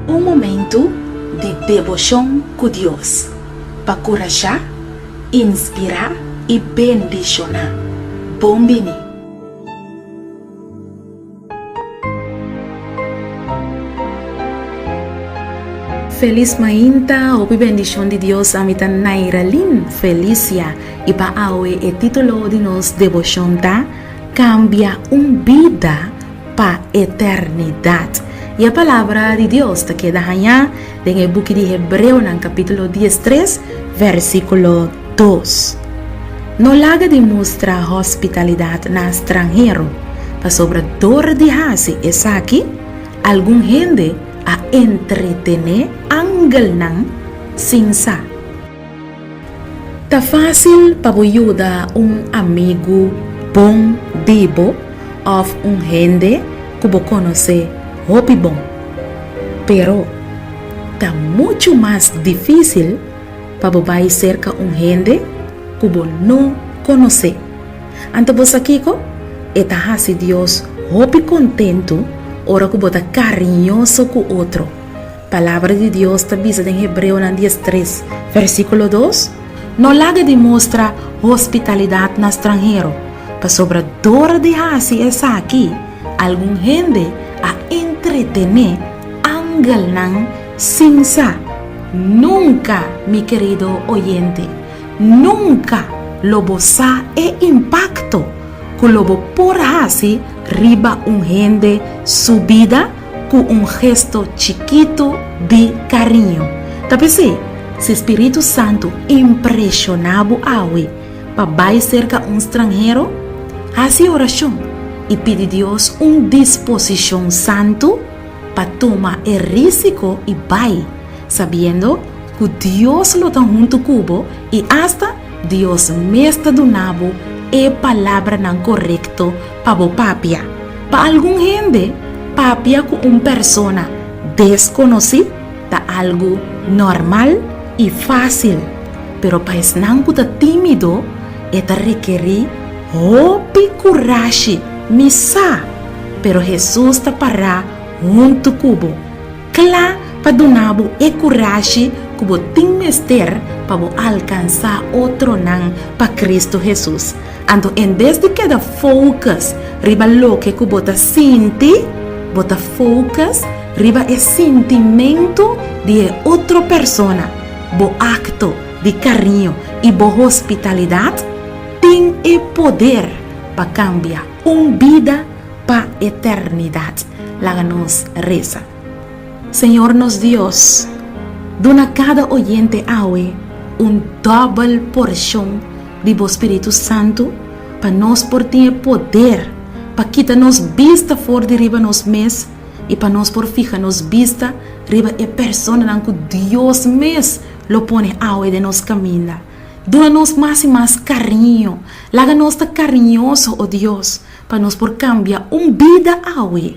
Un momentu di deboshon ku Dios pa kurashá, inspirá i bendishoná. Bon bini! Felis mainta, hopi bendishon di Dios ami ta Nairalyn Felicia i pa awe e titulo di nos devoshon ta, Kambia un bida pa eternidat. I e palabra di Dios ta keda hañá. Den e buki di Hebreonan kapítulo dies tres vèrsikulo dos, no laga di mustra hòspitalidat na stranhero, pasobra dor di hasi esaki algun hende a entretené angelnan sin sa. Ta fásil pa bo yuda un amigu bon di bo òf un hende ku bo konosé hopi bon. Pero, ta muchu mas difísil pa bo bai serka un hende ku bo no konosé. Anto bo sa kiko? E ta hasi Dios hopi kontentu ora ku bo ta kariñoso ku otro. Palabra di Dios ta bisa den Hebreonan dies tres, versíkulo dos, No laga di mustra hospitalidat na stranhero, pasobra dor di hasi esaki algun hende a entretené angelnan sin sa. Nunka, mi kerido oyente, nunka lo bo sa e impakto ku lo bo por hasi riba un hende su bida. Ku un gesto chikitu di kariño. Ta p'esei, si spiritu santu impreshoná bo awe pa bai serka un stranhero, hasi orashon i pidi Dios un disposishon santu pa tuma e rísiko i bai, sabiendo ku Dios lo ta huntu ku bo i asta Dios mes ta duna bo e palabranan korekto pa bo papia. Pa algun hende, papia ku un persona deskonosí ta algu normal i fásil, pero pa esnan ku ta tímido e ta rekerí hopi kurashi. Mi sa, pero Hesus ta pará huntu ku bo, kla pa duna bo e kurashi ku bo tin mester pa bo alkansá otronan pa Kristu Hesus. Anto en bes di keda focus riba loke cu bo ta sinti, bo ta focus riba e sintimentu di e otro persona. Bo acto di cariño y bo hospitalidad tin e poder pa cambia un bida pa eternidad. Laga nos reza. Señor nos Dios, duna cada oyente awe un dobel porcion di bo Spiritu Santu pa nos por tin e poder pa kita nos bista for di riba nos mes y pa nos por fija nos bista riba e personanan cu Dios mes lo pone awe den nos caminda. Duna nos mas y mas cariño. Laga nos ta cariñoso, oh Dios, pa nos por cambia un bida awe.